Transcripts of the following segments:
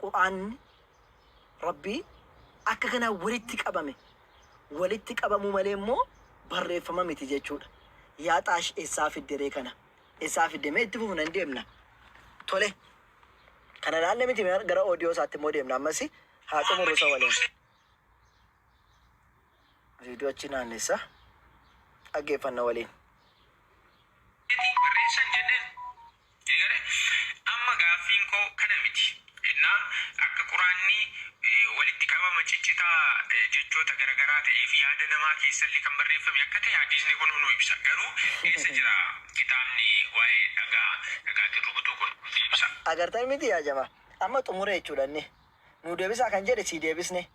Qur'aanni Rabbii akka kanaan walitti qabame. Walitti qabamuu malee immoo barreeffama miti jechuudha. Yaa Xaash essaa fidde ree kana? Essaa fidde? Mee itti fufna hin deemna. Tole. Kana laalle miti mee gara audio isaatti immoo deemna ammasi haa xumurru isa waliin. Viidiyoo achi naannessa dhaggeeffanna waliin. barreessan jenneen Eegalee amma gaaffiin koo kana miti. Innaa akka Quraanni walitti qabama ciccitaa jechoota garagaraa ta'ee fi yaada namaa keessallee kan barreeffame akka ta'e hadiisni kun nuu ibsa. Garuu eessa jira kitaabni waa'ee dhagaa dhagaatiin rukutuu kun? Deebisaa. Agartan miti yaa jamaa amma xumure jechuudha inni nuu deebisaa kan jedhe sii deebisne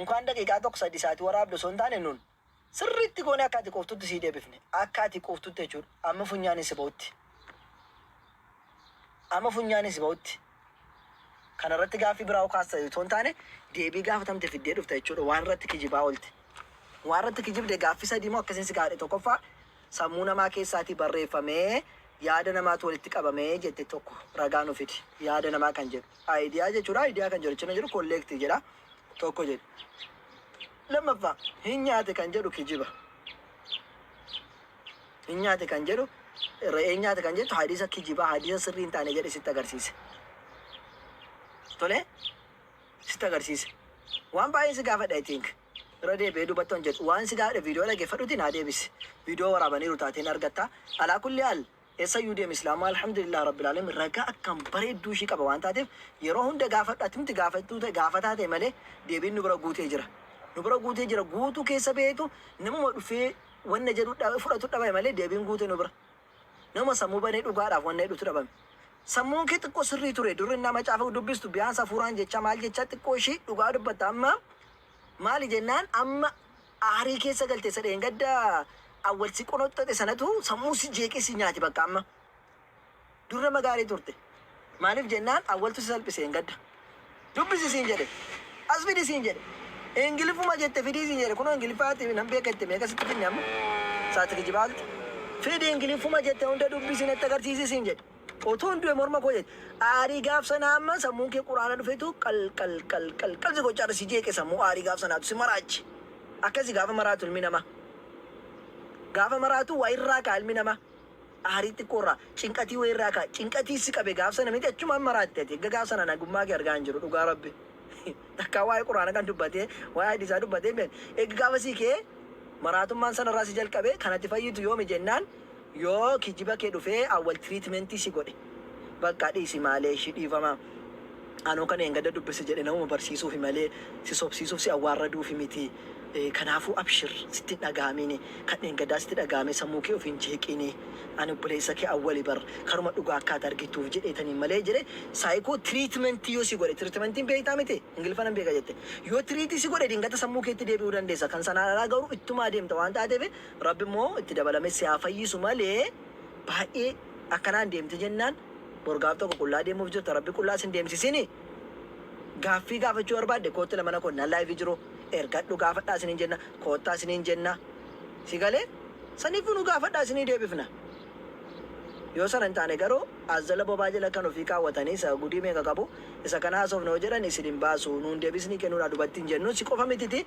unkaan daqiiqaa tokko sadii isaati waraabde osoo hin taane nun Sirriitti goonee akka ati quuftutti sii deebifne. Akka ati quuftutti jechuudha. Amma funyaaniin si ba'utti. Amma funyaaniin si ba'utti. Kana irratti gaaffii biraa hoo kaasta otoo hin taane deebii gaafatamte fiddee dhufta jechuudha. Waan irratti kijibaa oolte. Waan irratti kijibde gaaffii sadii moo akkasiin si gaafadhe tokkoffaa sammuu namaa keessaatii barreeffamee yaada namaatu walitti qabamee jette tokko ragaa nu fidi. Yaada namaa kan jedhu. Idea jechuudha. Idea kan jedhu jechuun jiru collect jedha. Tokko jedhu. Lammaffaa, hin nyaate kan jedhu kijiba. Hin nyaate kan jedhu, re'ee hin nyaate kan jettu hadiisa kijibaa, hadiisa sirrii hin taane jedhee sitti agarsiise. Tole, sitti agarsiise. Waan baay'een si gaafadha I think. Irra deebi'ee dubbadhu hin jedhu. Waan si gaafadhe viidiyoo dhaggeeffadhuutii naa deebisi. Viidiyoo waraabaniiru taatee hin argatta. Alaa kulli haal Eessayyuu deemi Islaamummaa Alhamdulillaah Rabbil Aalamiin ragaa akkaan bareedduu ishii qaba waan taateef yeroo hunda gaafadhu ati miti gaafattuu ta'e gaafataa ta'e malee deebiin nu bira guutee jira nu bira guutee jira guutuu keessa baheetu namuma dhufee wanna jedhu dha fudhatu dhabame malee deebiin guute nu bira namuma sammuu banee dhugaadhaaf wanna jedhutu dhabame sammuun kee xiqqoo sirrii ture dur innaa macaafa dubbistu biyaansa hafuuraan jechaa maal jechaa xiqqoo ishii dhugaa dubbatta amma maali jennaan amma Aarii keessa galte isa dheengadda Awwal si qonoxxoxe sanatu sammuu si jeeqee si nyaate bakka amma. Dur nama gaarii turte. Maaliif jennaan Awwaltu si salphise dheengadda. Dubbisi siin jedhe. As fidi siin jedhe. Ingiliffuma jette fidii siin jedhe. Kunoo Ingiliffaa ati nan beeka jette meeqa sitti finne amma? Saati kijibaa olte. Fidi Ingiliffuma jette hunda dubbisi natti agarsiisi siin jedhe. Otuun du'e morma koo jajja. Aarii gaaf sanaa amma sammuun kee quraana dhufetu qal qal qal qal qal si gochaa irra si jeeqe sammuu aarii gaaf sanaatu si maraache. Akkasi gaafa maraatu ilmi namaa. Gaafa maraatu waa irraa ka'a ilmi namaa. Aarii xiqqoo irraa, cinqatii wayii irraa ka'a. Cinqatii si qabe gaaf sana miti achumaan maraatte ati. Erga gaaf sanaa nagummaa kee argaa hin jiru dhugaa Rabbi. Takkaa waa'ee quraana kan dubbatee, waa'ee hadiisaa dubbatee hin beekne. Erga gaafasii ka'ee maraatummaan sana irraa si jalqabe kan ati fayyitu yoomi jennaan Yoo kijiba kee dhufee awwal treatment si godhe baqqa dhiisi maaleeshi dhiifama anuu kan dheengadda dubbise jedhe namuma barsiisuufi malee si sobsiisuuf si awwaarraduufi miti kanaafuu abshir sitti hin dhagahamiini kan dheengaddaa sitti dhagahame sammuu kee ofiin jeeqiini ani obboleessa kee awwali bar karuma dhugaa akka ati argituuf jedheetaniin malee jedhe psycho treatment yoo si godhe treatment beektaa miti ingiliffa nan beeka jette yoo treat si godhe dingata sammuu keetti deebi'uu dandeessa kan sanaan alaa garuu ittuma adeemta waan taateef Rabbi immoo itti dabalamee si haa fayyisu malee baay'ee akkanaan deemte jennaan bor gaaf tokko qullaa deemuuf jirta rabbi qullaa sin deemsisini gaaffii gaafachuu barbaadde kootti lamana koo nan live jiru ergadhu gaafadhaa isinin jenna koottaa isinin jenna si galee saniifuu nu gaafadhaa isinii deebifna yoo sana hin taane garuu as jala bobaa jala kan ofii kaawwatanii isa gudii meeqa qabu isa kana haasofna yoo jedhan isin hin baasu nuun deebisnii kennuudha dubatti hin jennu si qofa mititi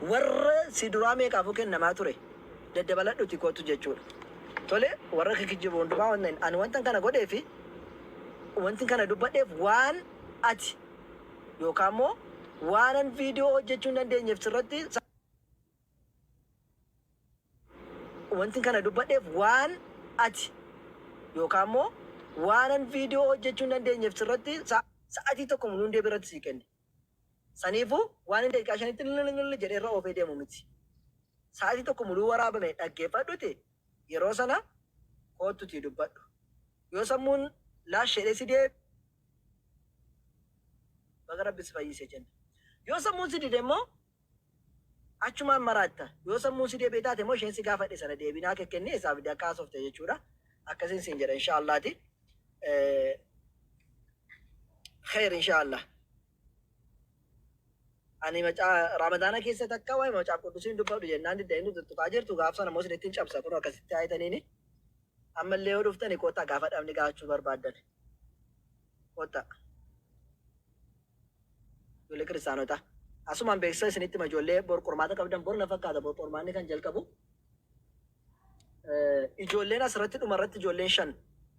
Warra si duraa meeqaafuu kennamaa ture, daddabaladhuutii kottu jechuu dha. Tole, warra kikijjibu hundumaa wanta hin. Ani wantan kana godhee fi wantin kana dubbadheef waan ati yookaan immoo waanan viidiyoo hojjechuu hin dandeenyeef sirratti sa. Wantin kana dubbadheef waan ati yookaan immoo waanan viidiyoo hojjechuu hin dandeenyeef sirratti sa. Sa'atii tokko mulundee biratti sii kenne. Saniifuu waan inni daqiiqaa shanitti lililililil jedhee irra oofee deemu miti. Sa'aatii tokko muluu waraabame dhaggeeffadhuti yeroo sana koottutii dubbadhu. Yoo sammuun laash jedhee si deeb baga rabbi si fayyise jenna. Yoo sammuun si dide immoo Achumaan maraatta. Yoo sammuun si deebi'e taate immoo isheen si gaafadhe sana deebii naa kekkenni eessaa fidde akka haasofte jechuudha. Akkasiin siin jedha inshaa Allaati. Kheer inshaa Allah. Ani macaa Ramadaana keessa takka waa'ee macaaf quddusiin dubbadhu jennaan didda inni tuttuqaa jirtu gaaf sana immoo sinittiin cabsa kun akkasitti haayitaniini. Ammallee yoo dhuftani kottaa gaafa dhabni gaafachuu barbaaddan. Kottaa. Ijoollee kiristaanotaa. Asumaan beeksisa isinitti hima ijoollee bor qormaata qabdan bor na fakkaata bor qormaanni kan jalqabu. Eh, Ijoolleen asirratti dhumarratti ijoolleen shan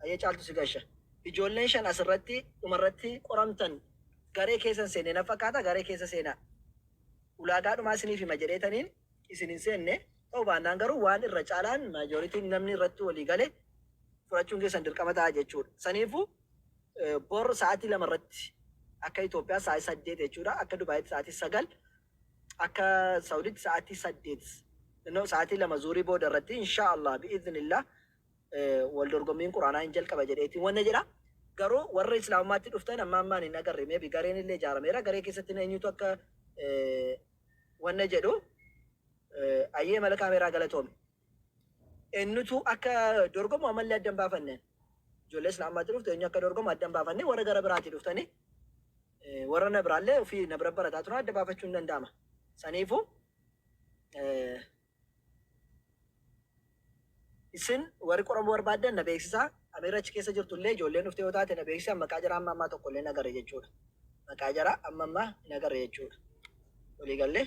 ayyee caaltu si gasha. Ijoolleen shan asirratti dhumarratti qoramtan garee keessan seenne na fakkaata garee keessa seenaa. Ulaagaa dhumaa isiniif hima jedheetaniin isin hin seenne ta'u baannaan garuu waan irra caalaan maajoritiin namni irratti walii gale fudhachuun keessan dirqama ta'a jechuudha. Saniifuu Bor sa'aatii 2:00 irratti akka Itoophiyaa sa'aatii 8:00 jechuudha. Akka Dubaayitti sa'aatii 9:00, akka Sa'uditti sa'aatii 8:00 no sa'aatii 2:00 zuhrii booda irratti inshaa Allaah bi'idhinillaah wal dorgommiin Qur'aanaa hin jalqaba jedheetiin wanna jedha. Garuu warra Islaamummaatti dhuftan amma ammaan hin agarre maybe gareen illee ijaarameera garee keessatti eenyutu akka wanna jedhu ayyee mala kaameeraa galatoomi. Eenyutu akka dorgomu ammallee adda hin baafanne. Ijoollee silaa ammaatti dhuftu eenyu akka dorgomu adda hin baafanne. Warra gara biraatii dhuftanii warra na biraallee ofii na bira barataa turan adda baafachuun danda'ama. Saniifuu isin warri qoramuu barbaaddan na beeksisaa. Ameera achi keessa jirtu illee ijoolleen dhuftee yoo taate na beeksisaa maqaa jaraa amma ammaa tokko illee hin agarre jechuudha. Maqaa jaraa amma ammaa hin agarre jechuudha. Walii gallee.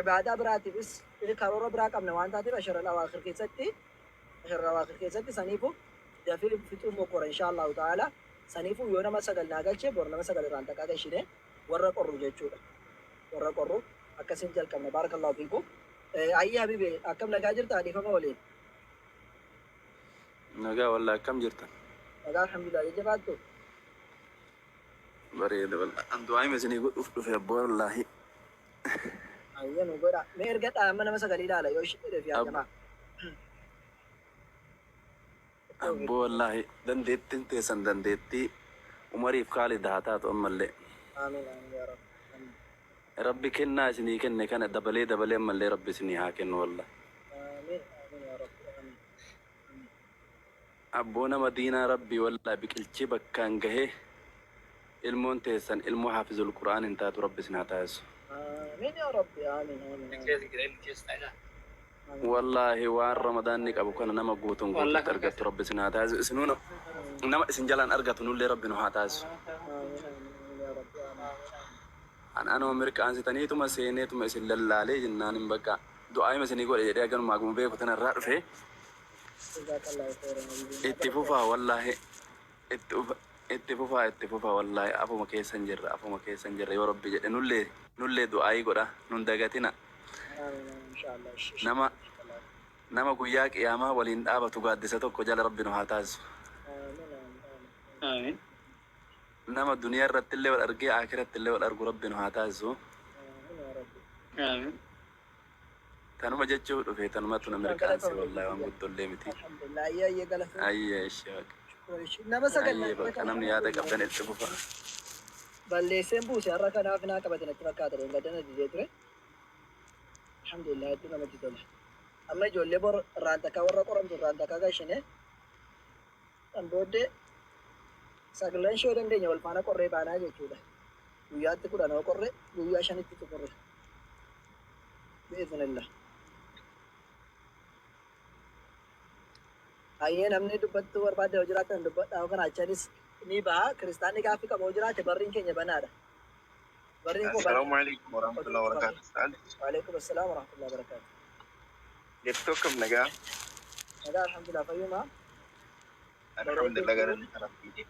Ibaadaa biraatiifis karoora biraa qabna waan taateef Ashr al-Awaakhir keessatti Ashr al-Awaakhir keessatti saniifuu dafii fixuu mokkora inshaa Allahu ta'aala. Saniifuu yoo nama sagal naa galche bor nama sagal irraan takkaa gashinee warra qorru jechuudha. Warra qorru akkasiin jalqabna. Baarakallahu fiikum. Ayyii habibi akkam nagaa jirtaa dhiifama waliin. Nagaa wallah akkam jirtan? Nagaa alhamdulillah jajjabaattu. Bareeda wallah. An du'aa hima isinii godhuuf dhufe abboo wallaahi. Hayyee nu godha. Mee ergadhaa amma nama sagalii ilaala yoo ishii jedheef yaa Abbo. jamaa. Abbo wallaahi dandeettiin teessan dandeettii umariif kaalid haa taatu ammallee. Aamiin aamiin yaa rabbi. Aamiin. Rabbi kennaa isinii kenne kana dabalee dabalee ammallee rabbi isinii haa kennu wallaahi. Aamiin aamiin yaa rabbi. Aamiin. Aamiin. Abboo nama diinaa rabbii wallahi biqilchii bakkaan gahee ilmoon teessan ilmoo haafizul qur'aan hin taatu rabbi isin haa taasisu. Aamiin yaa rabbi aamiin aamiin. Wallahi waan ramadaanni qabu kana nama guutuun guututti argattu rabbi isin haa taasisu isinuu nama isin jalaan argatu nullee rabbi nu haa taasisu. Aamiin aamiin yaa rabbi aamiin aamiin. An anuma mirqaansitaniituma seeneetuma isin lallaalee jennaanin bakka du'aayima isinii godhe jedhee haganumaa akkuma beeku tanarraa dhufee. Itti fufaa wallaahi itti fufaa itti fufaa wallaahi afuma keessan jirra afuma keessan jirra yoo rabbi jedhe nullee nullee du'aayii godha nun dagatina nama nama guyyaa qiyaamaa waliin dhaabatu gaaddisa tokko jala rabbi nu haa taasisu nama duniyaa irratti illee wal argee aakiratti illee wal argu rabbi nu haa taasisu Tanuma jechuu dhufe tanumatu na mirqaanse wallahi waan guddollee miti. Alhamdulillah ayyee ayyee galatoomi. Ayyee ishee baqa. Shukran ishee. Nama sagal Ayyee naan baqa namni yaada qabdan itti fufa. balleesseen buuse har'a kanaaf naa qabate natti fakkaata dheengadda na didee ture. Alhamdulillah hedduu namatti tola. Amma ijoollee bor irraan takkaa warra qoramtu irraan takkaa gashine San booddee saglan shoo dandeenya wal faana qorree baanaa jechuudha. Guyyaatti kudhan hoo qorre guyyaa shanitti xumurre. Bi'iznillah. Hayyee namni dubbattuu barbaadde yoo jiraatan dubbadhaa yoo kana achanis ni baha. Kiristaanni gaaffii qabu yoo jiraate barriin keenya banaadha. Barriin koo banaadha. Assalamu alaikum warahmatullahi wabarakatuh. Ustaaz. Waalaikum assalaam warahmatullahi wabarakatuh. Jirtu akkam nagaa. Nagaa alhamdulillah fayyuma. Alhamdulillah galanni kan rabbiiti.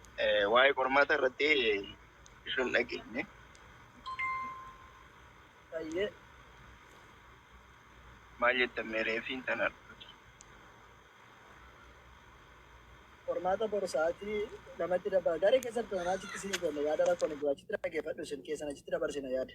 Waa'ee qormaata irratti ishun dhageenye. Tayyee Maal jettan mee reefiin tana qormaata boru sa'aatii lamatti dabala. Daree keessatti tana achitti isin goonna yaada rakkoon hin jiru. Achitti dhaggeeffadhu isin keessan achitti dabarsina yaada.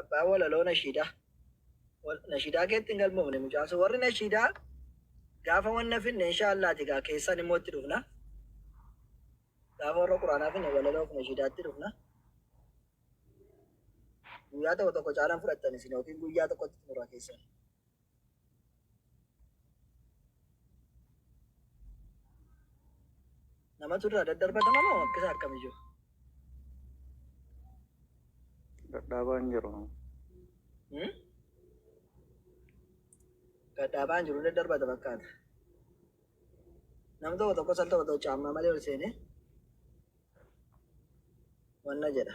Abbaa walaloo nashiidaa. Wal- Nashiidaa keetti hin galmoofne mucaan sun. Warri nashiidaa gaafa wanna finne inshaa Allah ati gaa keessan immoo itti dhufna. Gaafa warra quraanaa finne walaloo fi nashiidaatti dhufna. Guyyaa tokko tokko caalaan fudhattan isin yookiin guyyaa tokkotti xumura keessan. Namatu irraa daddarbatama moo akkasa akkami jiru? Dadhaabaa hin jiru. Hmm? Dadhaabaa hin jiru daddarbata fakkaata. Nam tokko tokko sal tokko tokko caammaa malee ol seenee wanna jedha.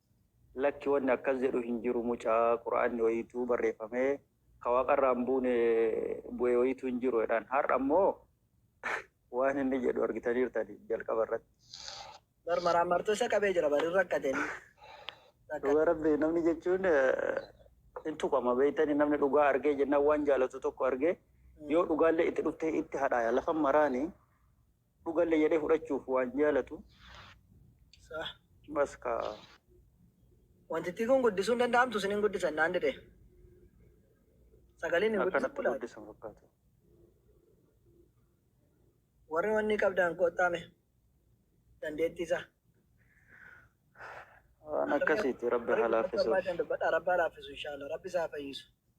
Lakki wanni akkas jedhu hin jiru mucaa qur'aanni wayiituu barreeffamee ka waaqarraa hin buune bu'e wayiituu hin jiru jedhaan har'a immoo waan inni jedhu argitaniirtan jalqaba irratti. Bar maraammartuu isa qabee jira bar hin rakkatin. Dhugaa rabbi namni jechuun hin tuqama beeytani namni dhugaa argee jennaan waan jaalatu tokko argee yoo dhugaallee itti dhuftee itti hadhaaya lafan maraani Dhugalle jedhe fudhachuuf waan jaalatu. Sah. Bas kaa. Wantittii kun guddisuu hin danda'amtu isin hin guddisan naan dide. Sagaleen hin guddisan Akkanatti kulaati. guddisan fakkaatu. Warri wanni qabdaan koottaame dandeettii isaa. Waan akkasiiti rabbi haa laaffisuuf. Dubbadha rabbaa laaffisu inshaallah rabbi isaa fayyisu.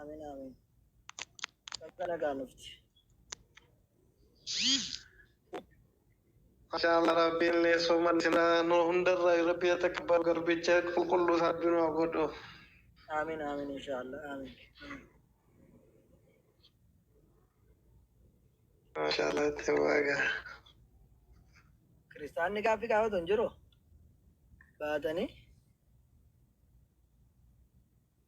Amin amin. Bakka nagaa nufti. Mashallah Rabbiin illee sooman isinaa nu hundarra Rabbi haa takabbalu garbicha qulqulluu isaa Rabbi nu haa godhu. Amin amin inshallah amin. Mashallah itti waaga. Kiristaanni gaaffii gaafatu hin jiru. Baatanii.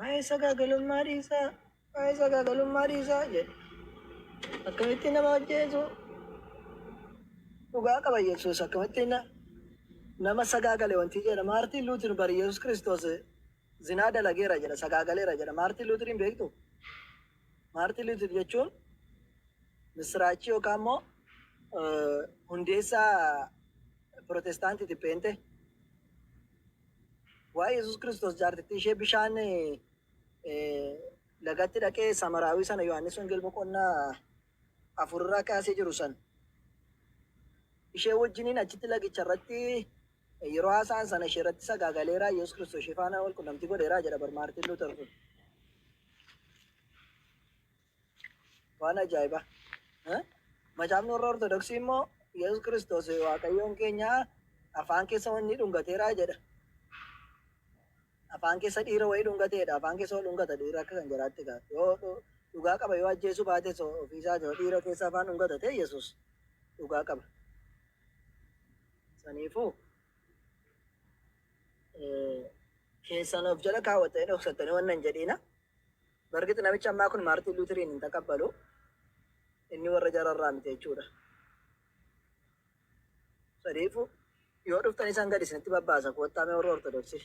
Waa'ee sagaagalummaa dhiisaa, waa'ee sagaagalummaa dhiisaa jedhe. Akkamitti nama ajjeesu? Dhugaa qaba Yesuus akkamitti na- nama sagaagale wanti jedha. Maartiin Luutir bari Yesuus Kiristoos zinaa dalageera jedha, sagaagaleera jedha. Maartiin Luutiriin beektu? Maartiin Luutir jechuun misiraachii yookaan immoo eh, hundeessaa Pirootestaantiiti Pheenxee. Waa'ee Yesuus Kiristoos jaartittii ishee bishaan lagatti dhaqee Samaraawii sana Yohaannis Wangeel boqonnaa afurraa kaasee jiru san ishee wajjiniin achitti lagicha irratti yeroo haasa'an sana ishee irratti sagaagaleeraa Yesuus Kiristoos ishee faana wal qunnamtii godheeraa jedha bar Maartiin Luuter kun. Waan ajaa'ibaa! Eh? Macaafni warra Ortodoksii immoo Yesus Kiristoos Waaqayyoon keenya afaan keessa wanni dhungateera jedha. Afaan keessa dhiira wayii dhungateedha. Afaan keessa wal dhungata dhiira akka kan jaraatti kaa. Yoo dhu- dhugaa qaba yoo ajjeesuu baates ofiisaa yoo dhiira keessa afaan dhungata ta'e Yesus dhugaa qaba. Saniifuu eh, keessan of jala kaawwattanii dhoksattanii wanna hin jedhiina. Bargit namichi ammaa kun Maartiin Luutiriin hin taqabbalu. Inni warra jara irraa miti jechuudha. Sadiifu yoo dhuftan isaan gadi isinitti babbaasa koottaa mee warra Ortodoksii.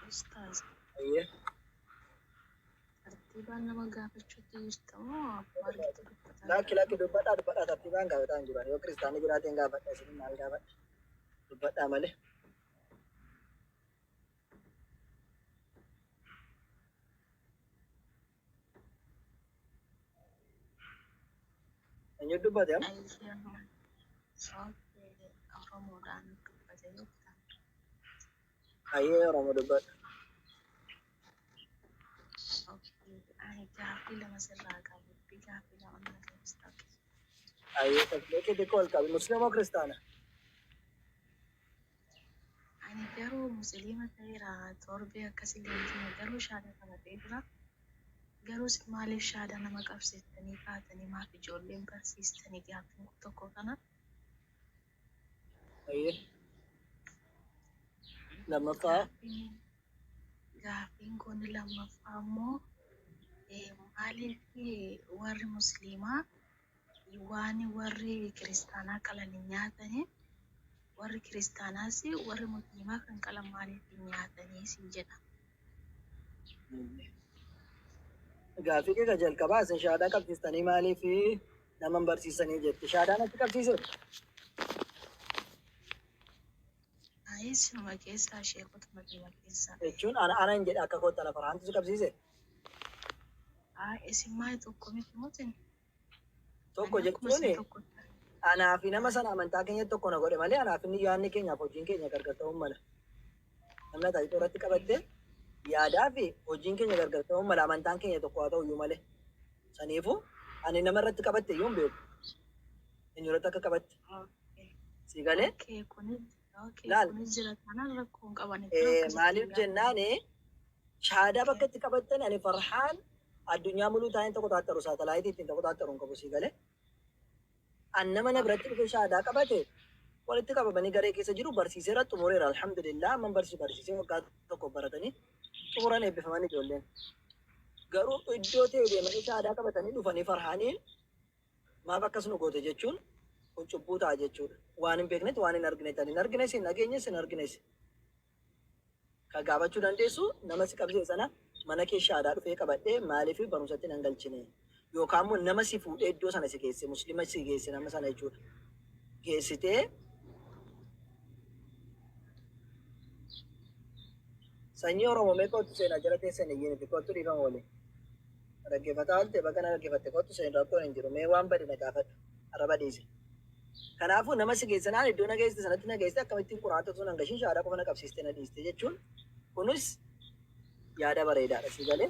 Ustaaz. Ayyee. Tartiibaan nama gaafachuutti jirta moo maalitti dubbataa Laakki jirta? laakki dubbadhaa dubbadhaa tartiibaan gaafataa hin jiran yoo kiristaanni jiraateen gaafadha isin maal gaafadha dubbadhaa malee. Eenyu dubbate amma? Ayyaana Oromoodhaan dubbate jechuudha. Hayyee Oromoo dubbadhu. Ani gaaffii lama sirraa qaba. Dubbii gaaffii lama na deebista. Hayyee sagalee kee xiqqoo ol qabi. Musliimoo kiristaana? Ani garuu musliima ta'eera torbee akkasii leenjiina garuu shaada qabatee jira. Garuu isin maaliif shaada nama qabsiistanii kaatanii maaf ijoolleen barsiistanii gaaffiin kun tokko kana. Ayyee. Lammaffaa. Gaaffiin kun lammaffaa immoo maaliif warri musliimaa waan warri kiristaanaa qalan hin nyaatani warri kiristaanaas warri musliimaa kan qalan maaliif hin nyaatanii siin jedha. Gaaffii kee kan jalqabaa isin shahaadaa qabsiistanii maaliif nama hin barsiisanii jette. Shaadaan achi qabsiisee. Ayi sinuma keessaa sheekotuma dhuma keessaa. Jechuun ana ana hin jedhe akka kootta lafa raantu si qabsiisee. Haa isin maal tokko miti mutin. Tokko Ani akkuma isin jechuun tokko. anaa fi nama sana amantaa keenyatti tokko na godhe malee anaa fi inni yaadni keenyaaf hojiin keenya gargar ta'uu mala. Amna taasiftuu irratti qabatte yaadaa fi hojiin keenya gargar ta'uu mala amantaan keenya tokko haa ta'u iyyuu malee. Saniifuu ani nama irratti qabatte iyyuu hin beeku. Eenyu irratti akka qabatte. Si galee? Laal. Maaliif jennaan shahaadaa bakka itti qabattan ani farhaan addunyaa muluu taa'een tokko taattaru saatalaayitii ittiin tokko taattaru hin qabu si galee? An nama na biratti dhufee shahaadaa qabate walitti qabamanii garee keessa jiru barsiiseera xumureera alhamdulillah amman barsiisu barsiisee waggaa tokkoof baratanii xumuran eebbifaman ijoolleen garuu iddoo ta'e deemanii shahaadaa qabatanii dhufanii farhaaniin maaf akkas nu goote jechuun kun cubbuu ta'a jechuudha waan hin beeknetti waan hin arginetti ani hin argines hin dhageenyes hin argines Kan gaafachuu dandeessu nama si qabsiise sana mana kee shahaadaa dhufee qabadhee maaliif barumsatti nan galchine? Yookaan immoo nama si fuudhee iddoo sana si geesse muslima si geesse nama sana jechuudha. Geessitee sanyii Oromoo mee kottu seenaa jala teessan iyyiniti kottu dhiifama waliin. Dhaggefataa oolte baga na dhaggefatte kottu seeni rakkoon hin jiru mee waan bade na gaafadhu arraba dhiisi. Kanaafuu nama si geesse naan iddoo na geessite sanatti na geessite akkamittiin quraanatti osoo nan gashin shahaadaa qofa na qabsiistee na dhiiste jechuun kunis yaada bareedaadha sii galee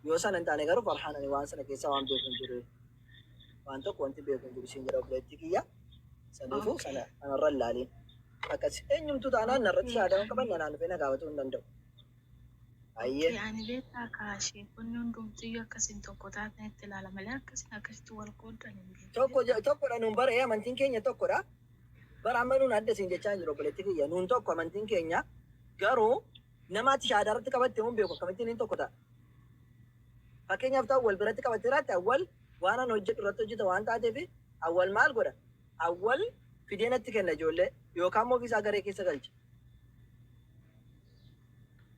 yoo sana hin taane garuu farhaan ani waan sana keessaa waan beeku hin jiru waan tokko wanti beeku hin jiru siin jedha obboleettii kiyya saniifuu Okay. sana kanarra hin laaliin akkas eenyumtuu taanaan narratti shahaadaa hin qaban nanaan dhufee na gaafachuu hin danda'u. Hayyee. Oke ani beektaa kaa sheekonni hundumtiyyuu akka isin tokko taatanitti ilaala malee akka isin akkasitti wal qooddan hin beeku Tokko je- beektaa. tokkodha nuun bara ee amantiin keenya tokkodha. Bara amma nuun adda siin jechaa hin jiru obboleetti kiyya. Nuun tokko amantiin keenya garuu nama ati shahaadaa irratti qabatte hin beeku akkamittiin hin tokko ta'a. Fakkeenyaaf ta'u wal biratti qabattee irratti awwal waan an hojjedhu irratti hojjeta waan taateef awwal maal godha? Awwal fidee natti kenna ijoollee yookaan immoo ofiisaa garee keessa galcha.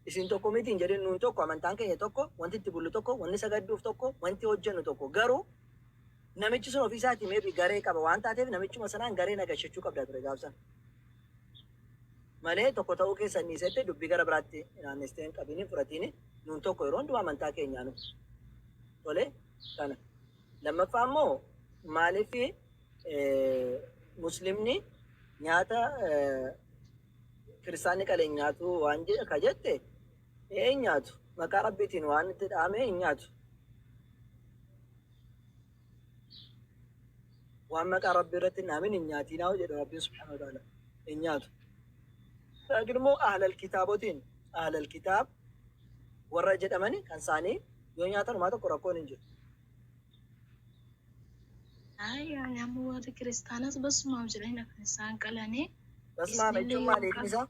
Isin tokko miti hin jedhin, nuun tokko, amantaan keenya tokko, wanti itti bullu tokko, wanni sagadduuf tokko, wanti hojjennu tokko. Garuu namichi sun ofii isaatii maybe garee qaba waan taateef namichuma sanaan garee nagashachuu qabda ture gaaf sana. Malee tokko ta'uu keessan dhiisette dubbii gara biraatti naannestee hin qabiin hin fudhatiin nuun tokko yeroo hundumaa amantaa keenyaa nu. Tole kana. Lammaffaa immoo maaliif muslimni nyaata Kiristaanni kale hin nyaatu waan je, ka jette, ee hin nyaatu. Maqaa Rabbiitiin waan itti dha'ame hin nyaatu. Waan maqaa Rabbii irratti hin dha'amin hin nyaatiinaa jedha Rabbiin subhaanahu wa ta'aala. Hin nyaatu. Laakiin immoo ahlal kitaabotiin ahlal kitaab warra jedhamani kan isaanii yoo nyaatan homaa tokko rakkoon hin jiru. Amma warri kiristaanas basumaaf jedhanii kan isaan qalanii. Basumaaf jechuun maal eegnisaa?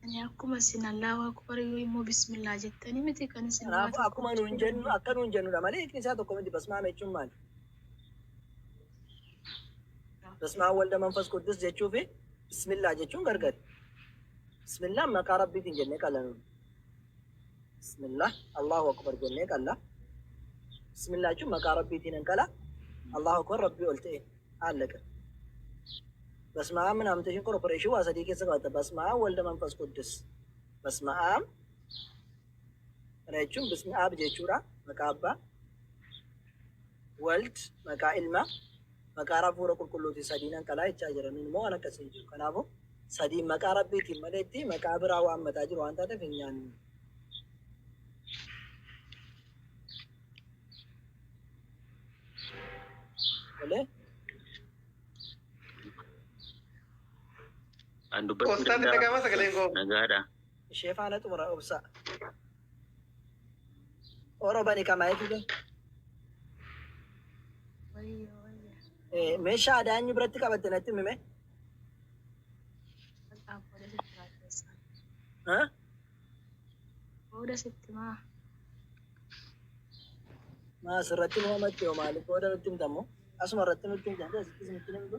Ani akkuma isin Allaahu Akbar yoo immoo bismillaa jettanii miti kan isin Kanaafuu akkuma nuun jennu akka nuun jennudha malee eegnisaa tokko miti basumaaf jechuun maali? Basmaa walda manfas quddus jechuu fi bismillaa jechuun gargari. Bismillah maqaa rabbiitiin jennee qalla nuun. Bismillah Allahu akbar jennee qalla. Bismillah jechuun maqaa rabbiitiin hin qala. Allahu akbar rabbii ol ta'e haalaqa. Basmaa'aan minaaminteeshin korporeeshin waa sadii keessa qabata. Basmaa'aan walda manfas quddus. Basmaa'aan Kana jechuun bismi aab jechuudha. Maqaa abbaa. Wald maqaa ilma. Maqaa hafuura qulqulluuti sadiinan qalaa jechaa jira. Nun immoo waan akkasii hin jiru. Kanaafuu sadiin maqaa rabbiitiin maleetti maqaa biraa waan mataa jiru waan taateef hin nyaannu. Malee An dubbachuu Ustaatiin danda'a. dhaga'ama sagaleen koo. Nagaadha. ishee faana xumura obsaa oro bani kamaa eegile Wayya wayya. meeshaa aadaa inni biratti qabatte natti mime Bakka booda sitti maa keessa. ha Booda sitti maa. maas irratti nu hamatte yoo maaliif booda nutti himtammo asuma irratti nutti himtamte asittis nutti himtu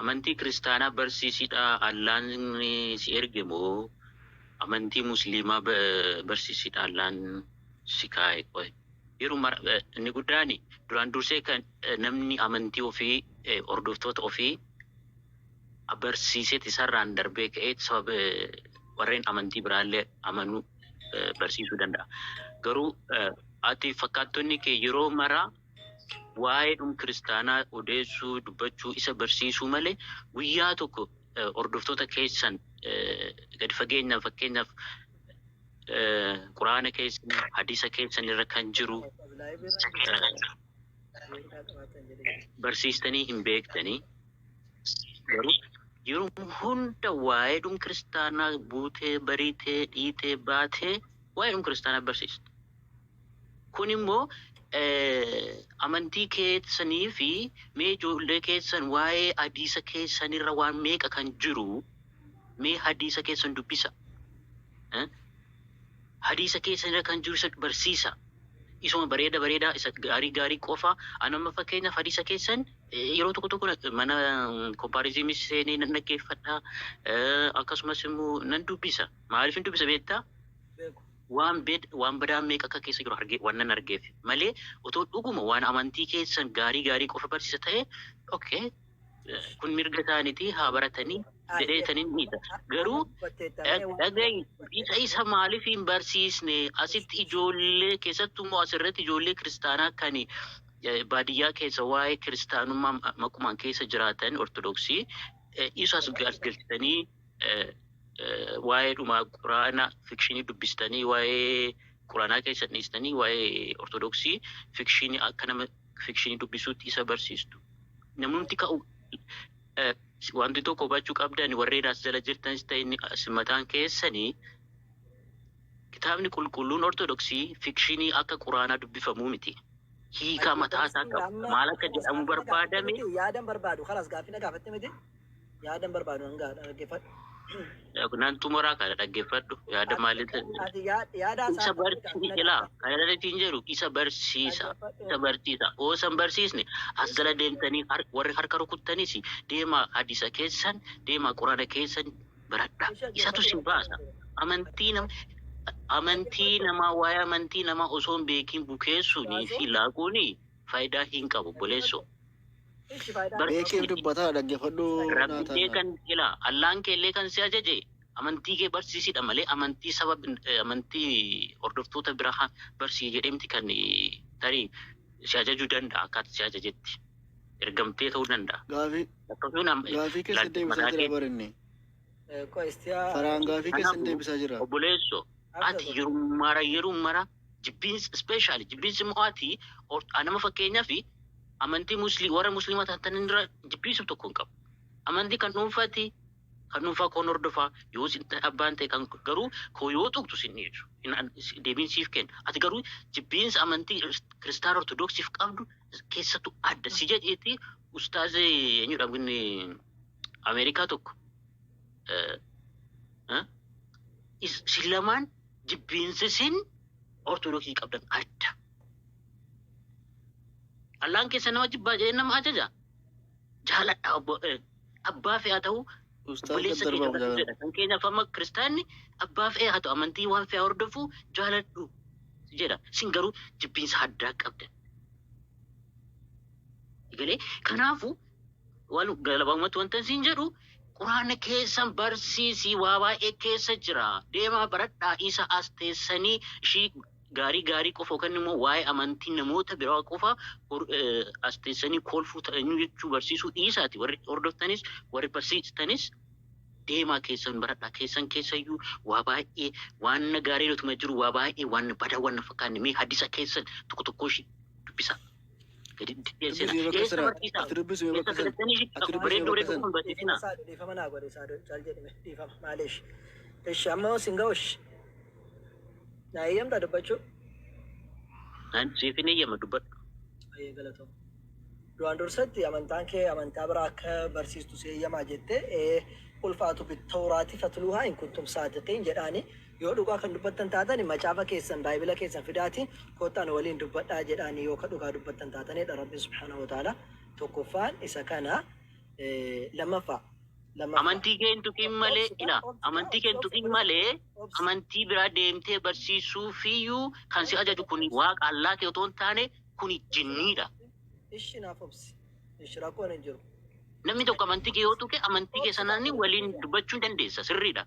Amantii kiristaanaa barsiisidha Allaan si erge moo amantii musliimaa barsiisidha Allaan si kaa'e qoy yeroo mara inni guddaan duraan dursee kan namni amantii ofii hordoftoota ofii barsiiseeti isarraan darbee ka'ee sababa warreen amantii biraallee amanuu barsiisuu danda'a garuu ati fakkaattonni kee yeroo mara waa'ee dhum kiristaanaa odeessuu, dubbachuu, isa barsiisuu malee guyyaa tokko hordoftoota keessan gadi fageenyaan fakkeenyaaf quraana keessan, hadiisa keessan irra kan jiru barsiistanii hin beektanii. Garuu yeroo hunda waa'ee dhum kiristaanaa buutee, bariitee, dhiitee, baatee waa'ee dhum kiristaanaa barsiista. Kun immoo amantii keessanii fi mee ijoollee keessan waa'ee hadiisa keessan irra waan meeqa kan jiru mee hadiisa keessan dubbisa. Hadiisa keessan irra kan jiru isa barsiisa. Isuma bareeda bareedaa isa gaarii gaarii qofa an amma fakkeenyaaf hadiisa keessan yeroo tokko tokko na- mana kompaariziimii seenee nan dhaggeeffadha. Eh, Akkasumas immoo nan dubbisa. Maaliif hin dubbisa beektaa? Waan bed, waan badaan meeqa akka keessa jiru arge, wannan argeef malee otoo dhuguma waan amantii keessan gaarii gaarii qofa barsiisa ta'e ok kun mirga isaanitii haa baratanii jedhee tan hin dhiisa. Garuu dhagayi isa isa maaliif hin barsiisne asitti ijoollee keessattuu immoo asirratti ijoollee kiristaanaa kan baadiyyaa keessa waa'ee kiristaanummaa maqumaan keessa jiraatan ortodoksii isas galchitanii waa'ee dhuma quraana fikshinii dubbistanii waa'ee quraanaa keessan dhiistanii waa'ee ortodoksii fikshinii akka nama fikshinii dubbisuutti isa barsiistu. Namumti ka'u eh, wanti tokko hubachuu qabdan warreen as jala jirtanis ta'e inni as mataan keessanii kitaabni qulqulluun ortodoksii fikshinii akka quraanaa dubbifamuu miti. Hiikaa mataa isaa qaba. Maal akka jedhamu barbaadame Yaadan barbaadu kanas gaaffii na gaafatte miti. Yaadan barbaadu nan gaadha dhaggeeffadhu. Nan xumuraa kana dhaggeeffadhu. Yaada maaliin Ati yaad- yaada isa haasaa barsiisa ilaa kan irratti jedhu isa barsiisa isa barsiisa oo san barsiisne as jala deemtanii har- warri harka rukuttanis deemaa hadiisa keessan deemaa quraana keessan baradha isatu si baasa amantii nama amantii namaa waa'ee amantii namaa osoo hin beekin bukeessuunii fi laaquuni faayidaa hin qabu boleessoo Beekeef dubbataa dhaggefadhu Rabbiillee kan ila Allaan keellee kan si ajaje amantii kee barsiisidha malee amantii saba amantii hordoftoota biraa barsii jedhee miti kan tarii si ajaju danda'a akkaata si ajajetti ergamtee ta'uu danda'a. Gaafii Akkasuun am- gaafii keessa ilaalcha deebisaa mataa jira keetti. barinni. Faraan gaafii keessa deebisaa jira. Obboleesso ati yerummaara yerummaara Jibbiinsi specially jibbiinsi immoo ati or nama fakkeenyafi amantii musli warra muslima taatan irra jibbiinsu tokko hin qabu. Amantii kan dhuunfaati kan dhuunfaa koon hordofaa yoo sin abbaan ta'e kan garuu koo yoo tuqtu sin dhiisu hin an- si- deebiin siif kenna. Ati garuu jibbiinsa amantii kiristaana ortodoksiif qabdu keessattu adda si jedheeti ustaaze eenyudha inni Ameerikaa tokko eh, eh, is- isin lamaan jibbiinsi isin ortodoksii qabdan adda. Allaan keessa nama jibbaa jedhee nama ajaja. Jaaladha obbo eh, abbaa fe'aa ta'uu Ustaaza obboleessa keenya darbamu barsiisedha. jaalala. Kan keenya fama kiristaanni abbaa fe'ee haa ta'u amantii waan fe'aa hordofu jaaladhu jedha. Isin garuu jibbiinsa addaa qabdan. Egalee kanaafuu Walu galabamatti wantan siin jedhu quraana keessan barsiisii waa baay'ee keessa jira deemaa baradhaa isa as teessanii ishii gaarii gaarii qofa yookaan immoo waa'ee amantii namoota biraa qofa hor- eh, as teessanii kolfuu ta'anii jechuu barsiisuu dhiisaati warri hordoftanis warri barsiistanis deemaa keessan baradhaa keessan keessayyuu waa baay'ee waan gaarii utuma jiru waa baay'ee waan bada waan fakkaanne mee hadisa keessan tokko tokko ishii dubbisaa. Duraan dursatti amantaan kee amantaa biraa akka barsiistu si eeyyamaa jettee ulfaatu bittawraati fatluuhaa in kuntum saadiqiin jedhaanii Yoo dhugaa kan dubbattan taatani macaafa keessan, Baayibila keessan fidaati koottaa nu waliin dubbadhaa jedhaani yoo ka dhugaa dubbattan taatani dha. Rabbiin subhaanahu wa ta'aalaa tokkoffaan isa kana. Lammaffaa, lammaffaa. Amantii kee hin tuqin malee, Obsi kaa, ilaah, obsi kaa, amantii kee hin obsi, obsi, tuqin malee, obsi, obsi. amantii biraa deemtee barsiisuufiyyuu kan si Obsi ajaju naaf kun obsi. waaqa Allaa kee otoo hin taane kun Obsi naaf jinniidha. obsi. Ishi naaf obsi. Ishi rakkoon hin jiru. Namni tokko amantii kee yoo tuqe amantii kee Obsi kaa, sanaan obsi waliin kaa. dubbachuu ni dandeessa, sirriidha.